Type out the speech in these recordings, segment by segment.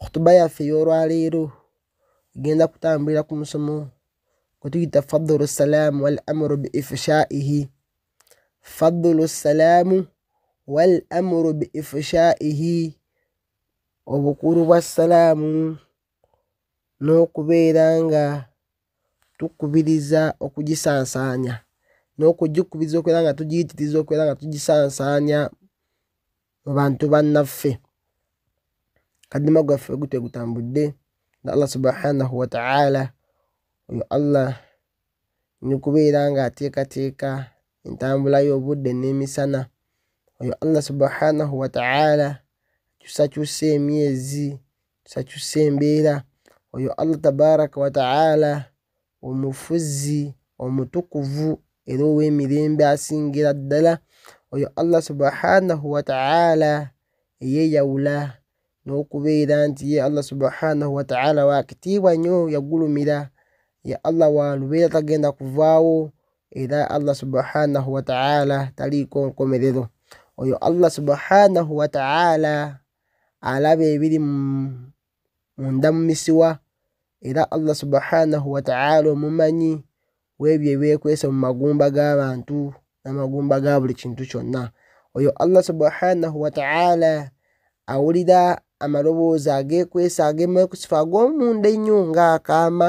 khutuba yaffe y'olwaleero egenda kutambulira ku musomo gwe tuyita fadulu salaamu wal amuru bi ifshaihi fadulu salaamu wal amuru bi ifshaihi obukulu bwa salaamu n'okubeera nga tukubiriza okugisansaanya n'okugikubiriza okubeera nga tugiyitiriza okubeera nga tugisansaanya mu bantu bannaffe kadima gwaffe gute gutambudde na allah subhanahu wataala oyo allah nikubeera nga ateekateeka entambula y'obudde n'emisana oyo allah subhanahu wataala akyusakyusa emyezi kyusakyusa embeera oyo allah tabaraka wataala omufuzi omutukuvu era ow'emirembe asingira ddala oyo allah subhanahu wataala eyeyawula n'okubeera nti ye allah subhanahu wataala wakitiibwa nnyo yagulumira ye allah walubeera tagenda kuvaawo era allah subhanahu wataala taliiko nkomerero oyo allah subhanahu wataala alaba ebiri mu munda mu misiwa era allah subhanahu wataala omumanyi webyo ebyekwese mu magumba g'abantu n'amagumba ga buli kintu kyonna oyo allah subhanahu wataala awulira amaloboozi agekwesa agemakusifa ag'omunda ennyo ng'akaama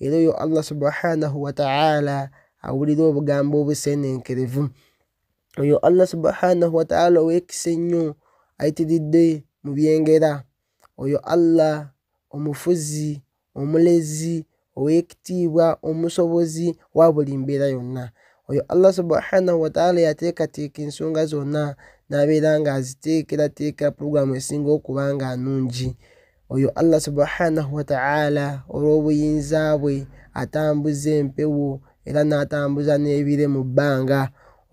era oyo allah subhanahu wataala awulira obugambo obusenenkerevu oyo allah subhanahu wataala owekisa ennyo ayitiridde mu byengera oyo Allah omufuzi omulezi ow'ekitiibwa omusobozi wa buli mbeera yonna oyo allah subhanahu wataala yateekateeka ensonga zonna n'abeera nga aziteekerateekera pulogulaamu esinga okuba nga nungi oyo allah subhanahu wataala olw'obuyinza bwe atambuza empewo era n'atambuza n'ebire mu bbanga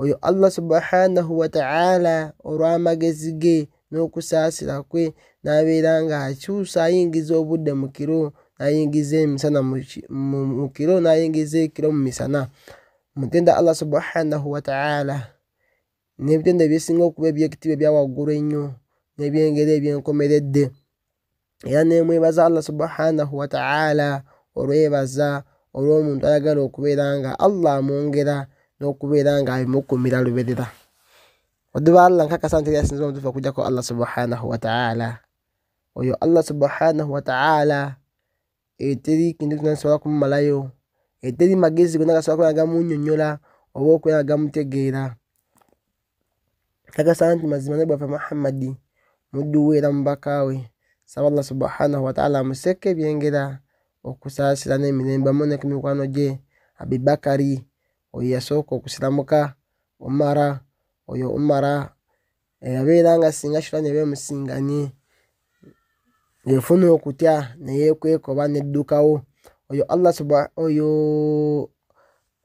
oyo allah subhanahu wataala olw'amagezi ge n'okusaasira kwe n'abeera ng'akyusa ayingiza obudde mu kiro n'ayingiza emisana mu kiro n'ayingiza ekiro mu misana mutenda allah subhanahu wataala n'ebitendo ebyesinga okuba ebyekitiibwa ebyawaggulu ennyo n'ebyengeri ebyenkomeredde era nemwebaza allah subhanahu wataala olwebaza olwomuntu ayagala okubeera nga allah amwongera nokubeera nga abimukumira luberera oduba allah nkakasa nti yasinza omutufu okujjako allah subhanahu wataala oyo allah subhanahu wataala eyo teri kintu kyona kisobola kumumalayo eyo teri magezi gona gasobola kuba gamunyonyola oba okubeera gamutegeera kakasa nti mazima ne bwaffe muhammadi muddu we era mubaka we saba allah subhanahu wataala amuseeko ebyengera okusaasira n'emirembe amu ne ku mikwano gye abibakari oyo yasooka okusiramuka umara oyo umara eyabeera nga singa shitani eba emusinganye efuna okutya neyekweka oba neddukawo oyo allah suba oyo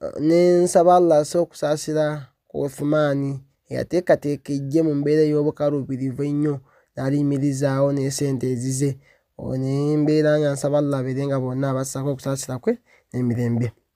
eh, nensaba allah asa okusaasira ku uthumaani eyateekateeka ejje mu mbeera ey'obukaluubirivu ennyo n'aliyimirizaawo n'esente ezize oyo nembeera nga nsaba allah abeere nga bonna abassako okusaasira kwe n'emirembe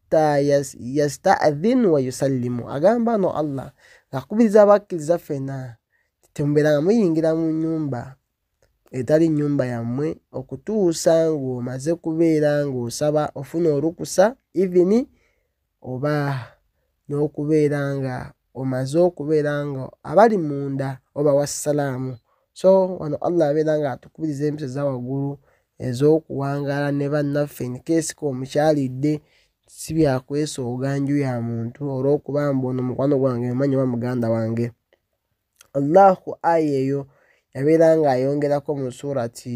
hatta yasta'dhin wa yusallimu agamba no allah ng'akubiriza abakkiriza ffena temubeeranga muyingira mu nyumba etali nyumba yammwe okutuusa ng'omaze kubeera ng'osaba ofuna olukusa ivini oba n'okubeera nga omaze okubeera nga abali munda oba wassalaamu so wano allah abeera nga atukubiriza empisa za waggulu ez'okuwangaala ne bannaffe nikeesika omukyalidde si byakwesooga nju ya muntu olw'okuba mbu ono mukwano gwange omanyi oba muganda wange allahu aya eyo yabeera ng'ayongerako mu suurati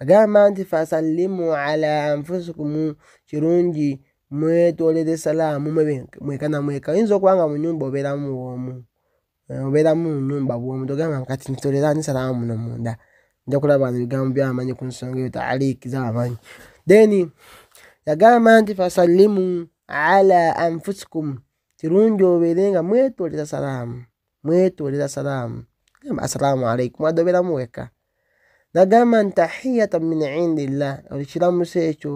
agamba nti fasallimu ala anfusukumu kirungi mwetolere salaamu mweka na mweka oyinza okuba nga mu nyumba obeeramu bwomu eh, obeeramu mu nyumba bwomu togamba kati ntitolera ni salaamu muno munda nja kulaba bano ebigambo byamanyi ku nsonga eyo taaliiki zabamanyi then yagamba nti fasallimu ala anfusukumu kirungi obeere nga mwetolera salaamu mwetolera salaamu gamba assalaamu alaikum wadde obeeramu weka nagamba nti tahiyatan min indillah ekiramuso ekyo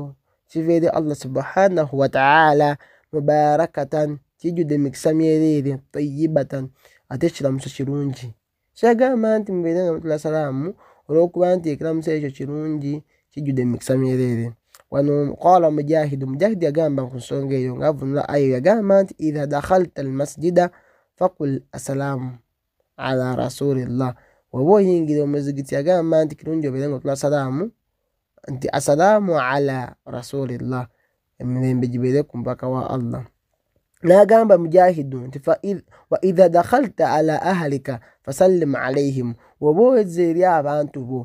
kiva eri allah subhanahu wataala mubarakatan kijjudde emikisa myereere tayibatan ate ekiramuso kirungi kyagamba nti mubeere nga mutula salaamu olwokuba nti ekiramuso ekyo kirungi kijjudde emikisa myereere wano qala mujahidu mujahidi yagamba ku nsonga eyo ngaavunula ayo yagamba nti idha dakhalta almasjida fakul assalaamu ala rasulillah oba oyingira omuzigiti agamba nti kirungi obeere nga otula salaamu nti asalaamu ala rasulillah emirembe gibeere ku mubaka wa allah n'agamba mujahidu nti wa idha dakhalta ala ahalika fasallim alaihim woba oweza eri abantu bo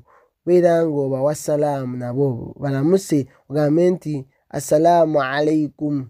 beera nga obawa salaamu nabo balamuse ogambe nti assalaamu alaikum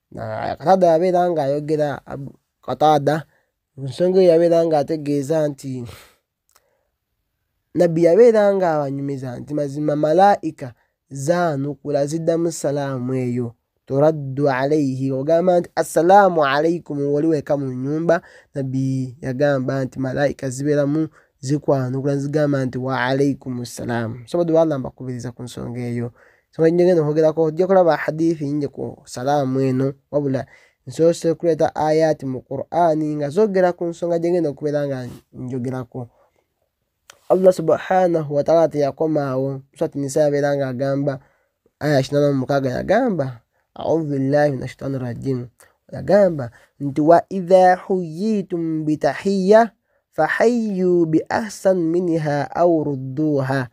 kataada yabeera nga ayogera kataada ensonga eyo yabeera nga ategeeza nti nabbi yabeera nga abanyumiza nti mazima malaika zaanukula ziddamu salaamu eyo turaddu alaihi ogamba nti assalaamu alaikum wali weka mu nyumba nabbi yagamba nti malaika zibeeramu zikwanukula zigamba nti wa alaikum ssalaamu sobadde waalamba kubiriza ku nsonga eyo sobola nyo ngenda okwogerako ojja kulaba hadithi nyingi ku salaamu eno wabula nsoose kuleeta ayati mu qur'ani nga zogera ku nsonga gyengenda okubeera nga njogerako allah subhanahu wataala teyakomaawo swati nisa yabeera nga agamba aya kinana mumukaaga yagamba audhu billahi min ashaitani rajim yagamba nti wa idha huyitum bitahiya fahayu biahsan minha au rudduha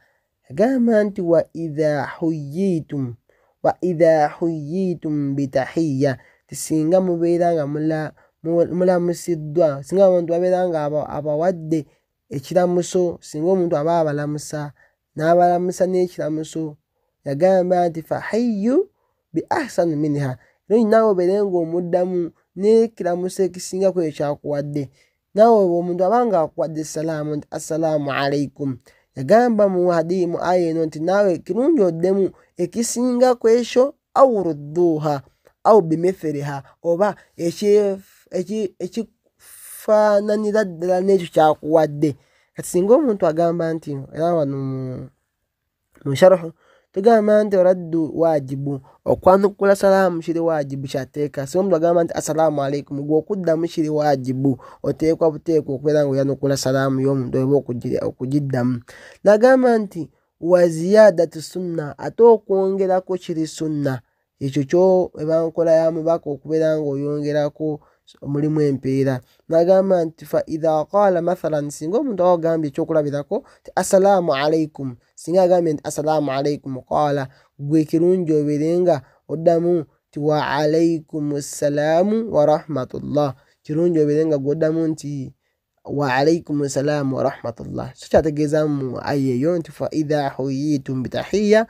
Agamba nti wa idha huyitum wa idha huyitum bitahiya ti singa mubeera nga mulamusiddwa singa abantu babeera nga abawadde ekiramuso singa omuntu aba abalamusa n'abalamusa n'ekiramuso yagamba nti fahiyu bi ahsanu minha era olinawe obeere ng'omuddamu n'ekiramuso ekisinga kweyo kyakuwadde nawe omuntu abanga akuwadde salaamu nti assalaamu alaikum yagamba mu hadiyi mu aya eno nti naawe kirungi oddemu ekisinga ku ekyo au rudduuha au bimithiriha oba ekifaananira ddala n'ekyo kyakuwadde kati singa omuntu agamba nti era wano mu sharuhu tugamba nti oraddu waajibu okwanukula salaamu kiri waajibu kyateeka singa omuntu agamba nti assalaamu alaikum gwe okuddamu kiri waajibu oteekwa buteekwa okubeera nga oyanukula salaamu y'omuntu oba okugiddamu nagamba nti wa ziyadatu sunna ate okwongerako kiri sunna ekyo kyo eba nkola ya mubaka okubeera ng'oyongerako mulimu empeera nagamba nti fa idha qaala mathalan singa omuntu awa ogambye ekyokulabirako ti assalaamu alaikum singa agambye nti assalaamu alaikum qaala gwe kirungi obeere nga oddamu ti wa alaikum ssalaamu warahmatullah kirungi obeere nga gwoddamu nti wa alaikum ssalaamu warahmatullah so kyategeeza mu aya eyo nti fa idha huyitum bitahiya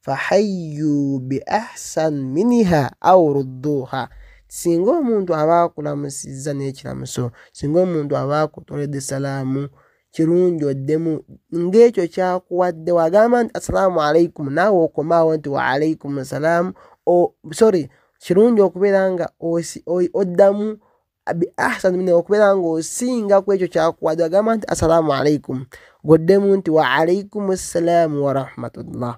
fahayyu bi ahsan miniha au rudduha singa omuntu aba akulamusizza n'ekiramuso singa omuntu aba akutoledde salaamu kirungi oddemu ng'ekyo kyakuwadde wagamba nti assalaamu alaikum naawe okomaawo nti wa alaikum salaamu sorry kirungi okubeera nga oddamu bi ahsani min okubeera ng'osinga ku ekyo kyakuwadde agamba nti assalaamu alaikum goddemu nti wa alaikum ssalaamu warahmatullah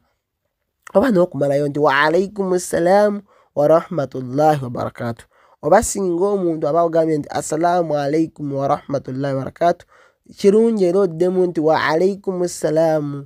oba n'okumalayo nti wa alaikum ssalaamu warahmatullahi wabarakatu oba singa omuntu aba ogambye nti assalaamu alaikum warahmatullahi wabarakatu kirungi era oddemu nti wa alaikum ssalaamu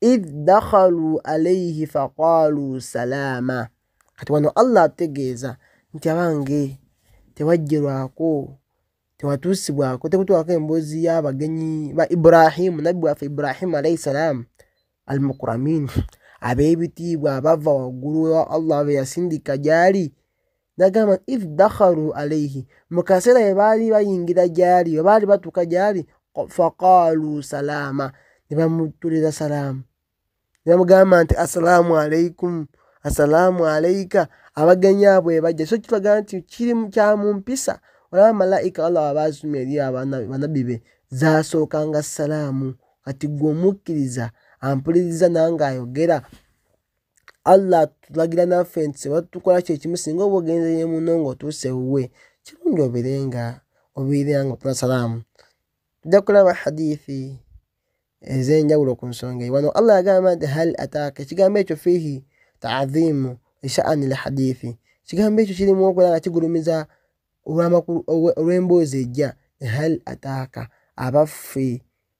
id dakhalu alaihi faqalu salaama kati wano allah ategeeza nti abange tewajjerwako tewatuusibwako tekutwako emboozi y'abagenyi ba ibrahimu nabbi waffe ibrahimu alaihi salaamu almukuramin ab'ebitiibwa abava waggulu ewa allah be yasindika gyali nagamba if dakharu alaihi mu kaseera bwe baali bayingira gyali bwe baali batuuka gyali faqaalu salaama ne bamutuliza salaamu ne bamugamba nti assalaamu alaikum assalaamu alaika abagenyi abo ebajja so kitulaga nti kiri kya mu mpisa olaba malaika allah wabaasuma eri banabbi be zaasookanga salaamu kati gwe omukkiriza ampuliriza nange ayogera allah atulagira naffe nti seba tukola kyekimu singa oba ogenzeye muno nga otuuse wuwe kirungi oberenga obeera nga otula salaamu tujja kulaba hadithi ez'enjawulo ku nsonga eyo wano allah yagamba nti hal ataaka ekigambo ekyo fiihi taadhimu eshaani lhadithi ekigambo ekyo kirimu okubeera nga kigulumiza olw'emboozi ejja hal ataaka abaffe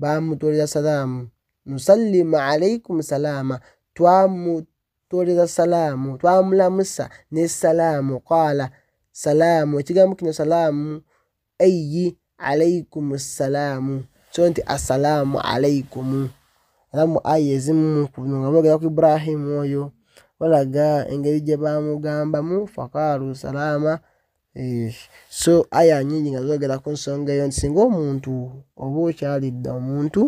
bamutolera salaamu nusallimu alaikum salaama twamutolera salaamu twamulamusa ne salaamu qaala salaamu ekigambo kino salaamu ayi alaikum salaamu so nti assalaamu alaikumu era mu aya ezimu kuno nga boogera ku ibrahimu oyo balaga engeri gye bamugambamu fakaalu salaama Eh, so aya nyingi nga zogera ku nsonga eyo nti singa omuntu oba okyalidde omuntu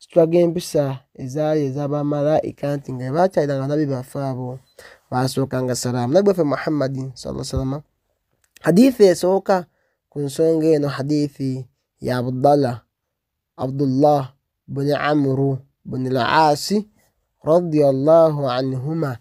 kitwaga empisa ezaali ezabamalaika nti nga bakyalira nga nabi baffe abo basooka nga salaamu nabi waffe muhammadin saa salama hadithi esooka ku nsonga eno hadithi ya abdalla abdullah buni amuru buni laasi radiallahu anhuma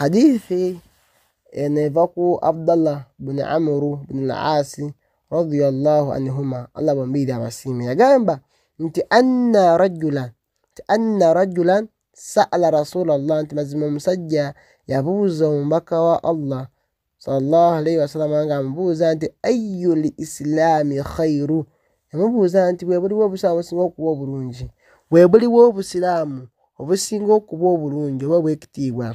hadithi eneva ku abdallah buni amuru buni laasi radiallahu anhuma allah bombiri abasiime yagamba nti anna rajulan nti anna rajulan saala rasulallah nti mazima omusajja yabuuza omubaka wa allah sallallahu alaihi wasalama nga amubuuza nti ayu li islaami khairu yamubuuza nti bwebuliwo obusiraamu obusinga okuba obulungi bwebuliwo obusiraamu obusinga okuba obulungi oba obwekitiibwa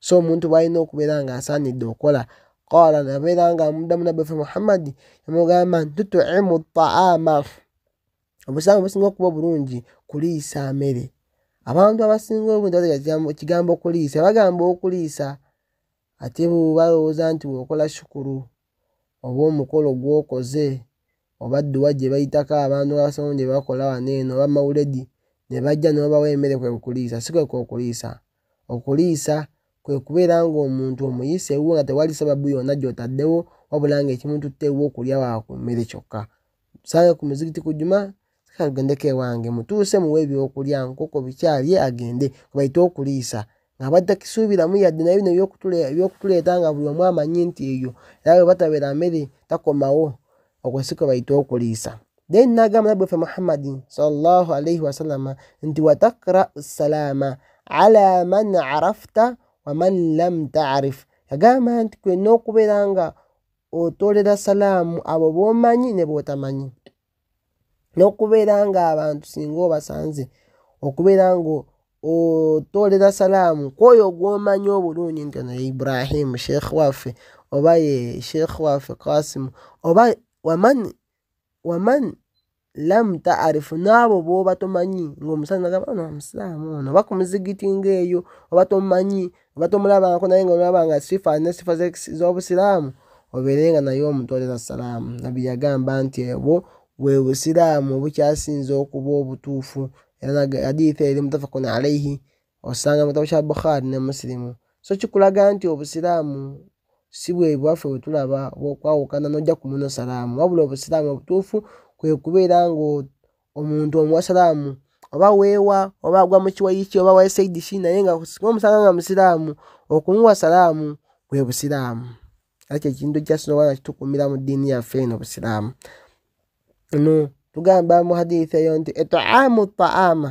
so omuntu bwalina okubeera nga asaanidde okola qaala nabeera nga amudamu nabbefe muhammadi yamugamba nti tutuimu taama obusiraamu obusinga okuba obulungi kuliisa mere abantu abasinga obuntu ekigambo okuliisa bagamba okuliisa ate bo balowooza nti weokola shukuru oba omukolo gwokoze oba dduwa gye bayitako abantu abasamu gye bakola wano eno oba mawuledi ne bajja nebabawa emmere kwe kuliisa si kwe kwokuliisa okuliisa kwe kubeera ng'omuntu omuyise ewuwo nga tewali sababu yonna gy'otaddewo wabula ng'ekimututte ewuwo okulya waku mmere kyokka sange ku muzikiti ku juma kagendeko ewange mutuuse muwe ebyokulya nkoko bikyalye agende kubaite okuliisa ng'abadde takisuubiramu yadde naye bino ebyokutuleeta nga buli omu amanyi nti eyo era bwe batabeera mmere takomawo okwo si kwe bayita okuliisa then n'agamba nabbi waffe muhammadi salllahu alaihi wasallama nti watakra salaama ala man arafta waman lam taarif yagamba nti kwena okubeera nga otolera salaamu abo b'omanyi ne b'otamanyi n'okubeera ng'abantu singa obasanze okubeera nga otoolera salaamu kwoyo gw'omanyi obulungi nti ono ye ibrahimu sheekh waffe oba ye sheekh waffe kasimu oba waman waman lam taarifu n'abo booba tomanyi ng'omusajja nagamba ono omusiraamu ono oba ku muzigiti ng'eyo oba tomanyi oba tomulabanko naye nga olaba nga sifa alina sifa z'obusiraamu obeere nga naye omutwalira salaamu nabbi yagamba nti ebwo bwe busiraamu obukyasinza okuba obutuufu era hadiitha eri mutafakun alaihi osanga mu kitabo kya bukhari ne musilimu so kikulaga nti obusiraamu si bwe bwaffe bwe tulaba bwokwawukana n'ojja ku muno salaamu wabula obusiraamu obutuufu kwe kubeera nga omuntu omuwasiraamu oba weewa oba agwa mu kiwayi ki oba waye saidi ki naye nga singa omusanga nga musiraamu okumuwa salaamu bwe busiraamu ekyo ekintu kyasinowana kitukuumira mu ddiini yaffe eno busiraamu no tugamba mu hadithi eyo nti etaamu taama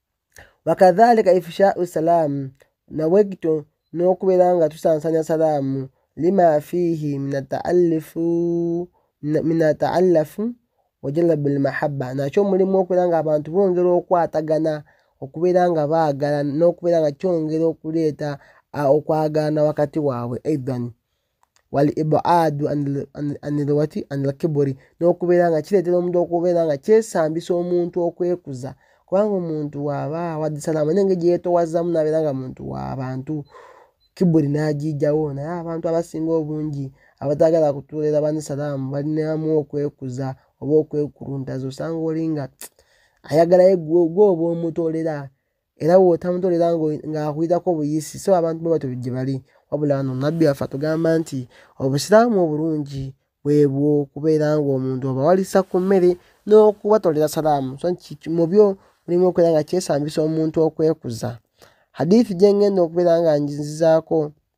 wakadhalika ifshau salaamu nawekito n'okubeera nga tusansanya salaamu lima fiihi minataallafu wajalabu lmahabba nakyo mulimu okubeera nga abantu bongera okwatagana okubeera nga baagala n'okubeera nga kyongera okuleeta okwagalana wakati waabwe aidan wal ibaadu anilwati anilkiburi n'okubeera nga kireetera omuntu okubeera nga kyesambisa omuntu okwekuza kubanga omuntu waaba wadisalaama naye nga gyeyetowazamu nabeera nga muntu wabantu kiburi n'agijjawo naye abantu abasinga obungi abatagala kutuulira bani salaamu balinamu okwekuza oba okwekuluntaza osanga oli nga ayagalayo gwoba omutolera era wotamutolera ng'akuwirako obuyisi so abantu bwe batyo gye bali wabula no nabbi waffe atugamba nti obusiraamu obulungi bwebwo okubeera ng'omuntu obawalisa ku mmere n'okubatolera salaamu so mu byo mulimu okubeera nga kyesambisa omuntu okwekuza hadithi gye ngenda okubeera nga njizizaako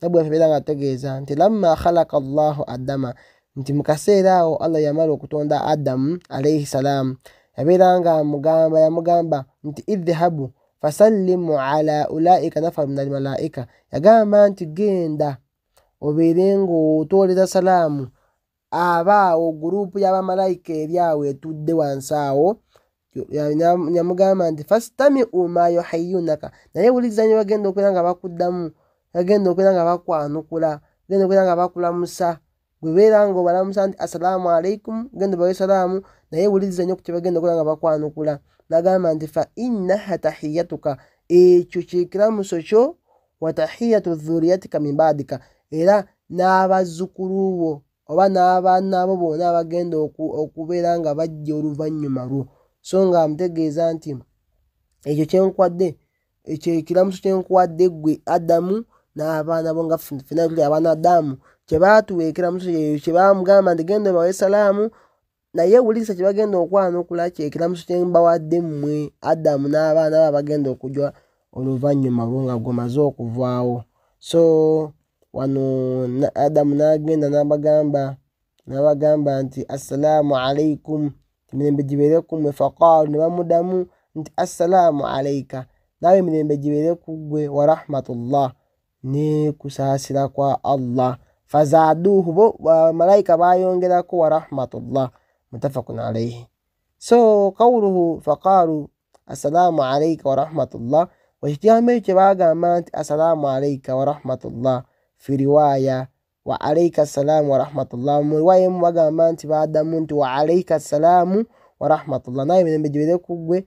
nabwe abeera nga ategeeza nti lamma khalaka allahu adama nti mu kaseera awo allah yamala okutonda adamu alaihi salaamu yabeera nga amugamba yamugamba nti idhabu fasallimu ala ulaika nafaru min almalaika yagamba nti genda obeere ng'otooleza salaamu aba awo guruupu ya bamalayika eri awo etudde wansi awo yamugamba nti fastami uma yuhayunaka naye wuliriza nyo bagenda okubeera nga bakuddamu bagenda okubeera nga bakwanukula bagenda okubeera nga bakulamusa gwebeera nga obalamusa nti assalaamu alaikum genda obawe salaamu naye wuliriza nyo ku kyebagenda okubeera nga bakwanukula nagamba nti fa innaha tahiyatuka ekyo kyekiramuso kyo watahiyatu dhuriyatika min baadika era n'abazzukulu bo oba n'abaana bo bona abagenda okubeera nga bajja oluvannyuma lwo so nga amutegeeza nti ekyo kyenkwadde ekyo ekiramuso kyenkwadde ggwe adamu n'abaana bo nga fena tuli abaana adamu kyebaatuwa ekiramuso kyeyo kyebamugamba nti genda obawe salaamu naye wulisa kyebagenda okwanukula kyekiramuso kyembawadde mmwe adamu n'abaana ba bagenda okujwa oluvannyuma lwo nga gwemaze okuvaawo so wano adamu n'agenda nabagamba nabagamba nti assalaamu alaikum emirembe gibeere ku mmwe faqaalu ne bamudamu nti assalaamu alaika naawe emirembe gibeere ku ggwe warahmatullah ne kusaasira kwa allah fazaaduuhu bo bamalayika baayongerako wa rahmatullah mutafakun alaihi so kawuluhu faqaalu assalaamu alaika wa rahmatullah ekigambo ekyo kye baagamba nti assalaamu alaika wa rahmatullah fi riwaaya wa alaika assalaamu wa rahmatullah mu riwaaya emu bagamba nti baadamu nti wa alaika assalaamu wa rahmatullah naye emirembe gibeere ku ggwe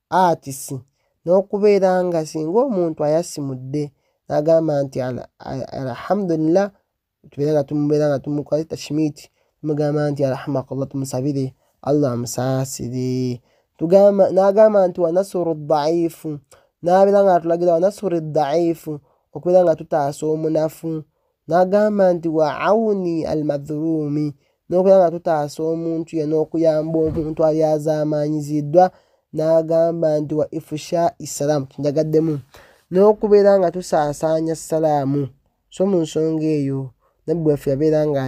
arts n'okubeera nga singa omuntu ayasimudde n'agamba nti alhamdulillah tubeera nga tumubeera nga tumukola tashimiti tumugamba nti arhamakallah tumusabire allah amusaasire n'agamba nti wanasuru daifu n'abeera nga atulagira wanasuru daifu okubeera nga tutaasa omunafu n'agamba nti wa auni almadhuluumi n'okubeera nga tutaasa omuntu ye n'okuyamba omuntu alyazaamaanyiziddwa n'agamba nti wa ifusha issalaamu kinjagaddemu n'okubeera nga tusaasaanya salaamu so mu nsonga eyo nabbi waffe yabeera nga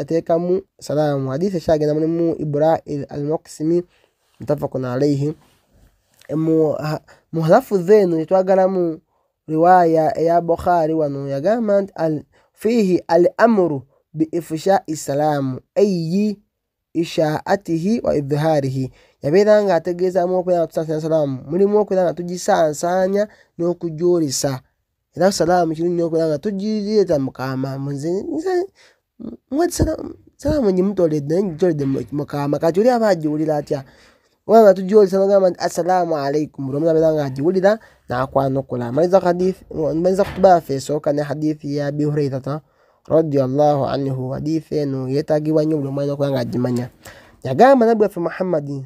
ateekamu salaamu hadiisi ekyagenda mulimu ibra almuksimi mutafakun alaihi muhalafu zeeno etwagalamu riwaya eya bukhari wano yagamba nti al, fihi al amuru biifushai salaamu eyi ishaatihi wa idhiharihi yabeera nga ategeezamu okubeera nga tusaasanya salaamu mulimu okubeera nga tugisansaanya n'okugyolesa era salaamu kirungi okubeera nga tugireeta mukaama salamu nyi mutoledde naye njitoledde mukama kati oli aba agiwulira atya kubanga tujolesa nagamba nti assalamu alaikum buli omuntu abeera nga agiwulira nakwanukula maliza hadithi maliza kutuba yaffe esooka ne hadithi ya abi hurairata radiallahu anhu hadithi eno yeetagibwa nnyo buli omwana okuba nga agimanya yagamba nabbi waffe muhammadin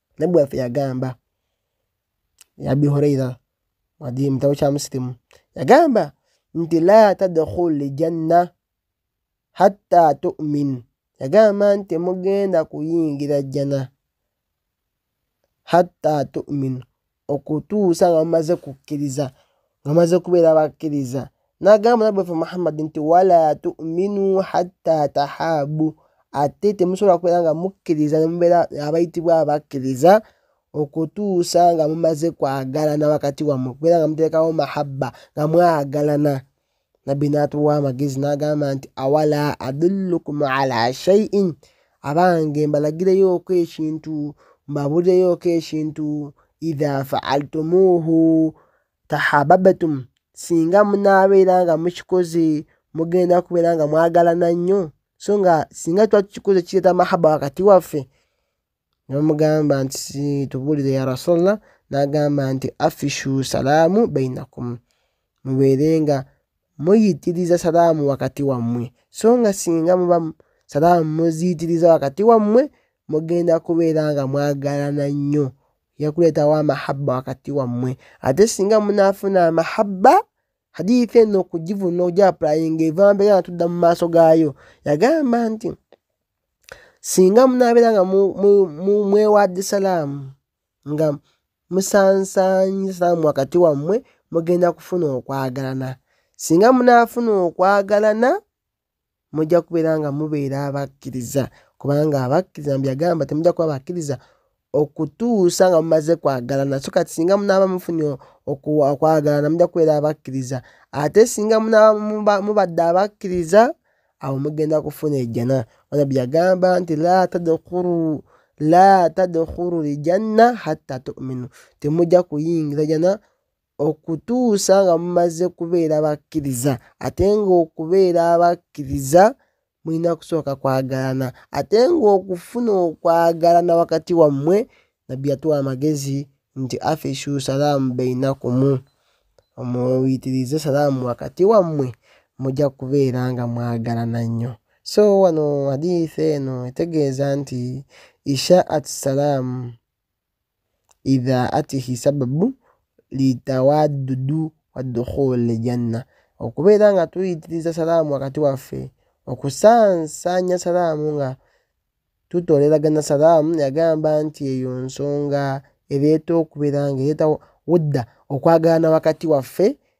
nabbi waffe yagamba abi huraira wadi mutabo kya musilimu yagamba nti la tadkhul janna hatta tumin yagamba nti mugenda kuyingira jjana hatta tumin okutuusa nga mumaze kukkiriza nga maze kubeera bakkiriza n'agamba nabbi waffe muhammadi nti wala tuminu hatta tahaabu ate temusobola kubeera nga mukkiriza nemubeera abayitibwa abakkiriza okutuusa nga mumaze kwagalana wakati wammwe kubeera nga muteekawo mahabba nga mwagalana nabbi n'atuwa amagezi n'agamba nti awala adullukum ala shaiin abange mbalagireyoko ekintu mbaburireyoko ekintu idha faaltumuuhu tahababatum singa munaabeera nga mukikoze mugenda kubeera nga mwagalana nnyo so nga singa tuba tukikoze kireeta mahaba wakati waffe nebamugamba nti tubuulire ya rasulallah n'agamba nti afishu salaamu bainakum mubeere nga muyitiriza salaamu wakati wammwe so nga singa muba salaamu muziyitiriza wakati wammwe mugenda kubeera nga mwagalana nnyo yakuleetawo amahabba wakati wammwe ate singa munaafuna amahabba hadithi eno okugivuna ogyapulainga eva mbeera natudda mu maaso gaayo yagamba nti singa munaabeera nga mwewadde salaamu nga musansanyi salaamu wakati wammwe mugenda kufuna okwagalana singa munaafuna okwagalana mujja kubeera nga mubeera abakkiriza kubanga abakkiriza mbyagamba temujja kuba bakkiriza okutuusa nga mumaze kwagalana so kati singa munaaba mufunye okwagalana mujja kubeera abakkiriza ate singa munaaba mubadde abakkiriza awo mugenda kufuna ejjana onabbi yagamba nti la tadkhulu la tadkhulu ljanna hatta tuminu temujja kuyingira jana okutuusa nga mumaze kubeera bakkiriza ate ngaokubeera abakkiriza mulina kusooka kwagalana ate ng'okufuna okwagalana wakati wammwe nabbi yatuwa amagezi nti afishu salaamu beinakumu omuyitirize salaamu wakati wammwe mujja kubeera nga mwagalana nnyo so wano hadiisi eno etegeeza nti isha at salaamu idhaatihi sababu litawadudu wadukhul janna okubeera nga tuyitiriza salaamu wakati waffe okusansanya salaamu nga tutoleragana salaamu yagamba nti eyo nsonga ereeta okubeera nga ereeta wudda okwagalana wakati waffe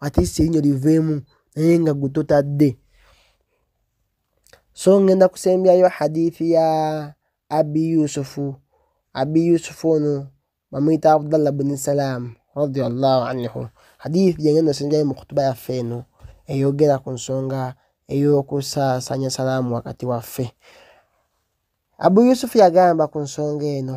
at least erinyo liveemu naye nga gwe totadde so ngenda kusembyayo hadithi ya abi yusufu abi yusufu ono bamuyita abdallah bni salaamu radiallahu anhu hadithi gyengenda osinjayo mu kutuba yaffe eno eyogera ku nsonga ey'okusaasanya salaamu wakati waffe abu yusufu yagamba ku nsonga eno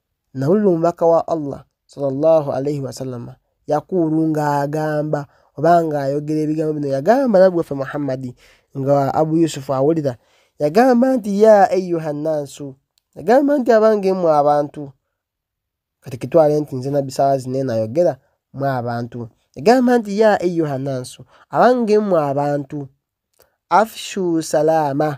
nawulira omubaka wa allah salllah alaihi wasallama yakuulu ng'agamba oba ng'ayogera ebigambo bino yagamba nabbi waffe muhammadi nga abu yusufu awulira yagamba nti ya ayuha nnansu yagamba nti abange mwe abantu kati kitwale nti nze nabbi sawa zine nayogera mwe abantu yagamba nti ya ayuha nnansu abange mwe abantu afshu salaama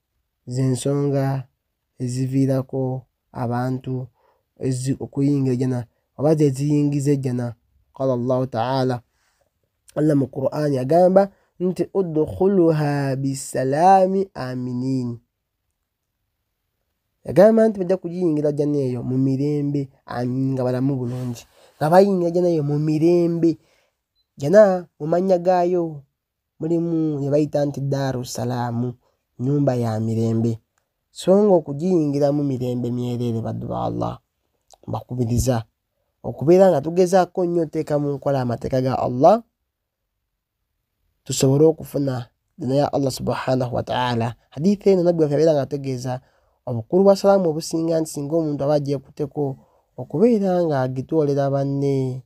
zensonga eziviirako abantu okuyinga ejana oba zeziyingiza ejana qala llahu taala allah mu qurani agamba nti udkhuluha bisalaami aminin yagamba nti bajja kugiyingira jana eyo mu mirembe nga balamu bulungi nga bayingira jana eyo mu mirembe jana mu mannya gaayo mulimu ne bayita nti daaru salaamu nyumba ya mirembe so nga okugiyingiramu mirembe myereere baddu ba allah mbakubiriza okubeera nga tugezaako nnyo oteeka mu nkola amateeka ga allah tusobole okufuna dina ya allah subhanahu wataala hadithi eno nabbi wafe abeera nga ategeeza obukulu bwa salaamu obusinga nti singa omuntu aba agyekuteko okubeera nga agitwolera banne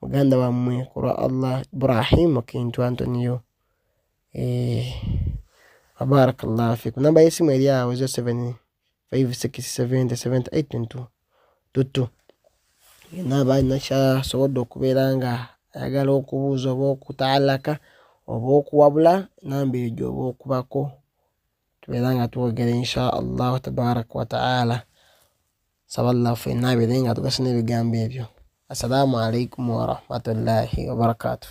muganda wammwe ku lwa allah ibrahim kintu antoniyo eh, wabarakallahu fikum namba yesimu eri awo 0756707822 tuttu yena aba alina kyasobodde okubeera nga ayagala okubuuza oba okutaalaka oba okuwabula namba eyo gyoba okubako tubeera nga twogera insha allahu tabaraka wataala saba llah ffe naabire nga tugasa n'ebigambo ebyo assalamu alaikum warahmatullahi wabarakatuh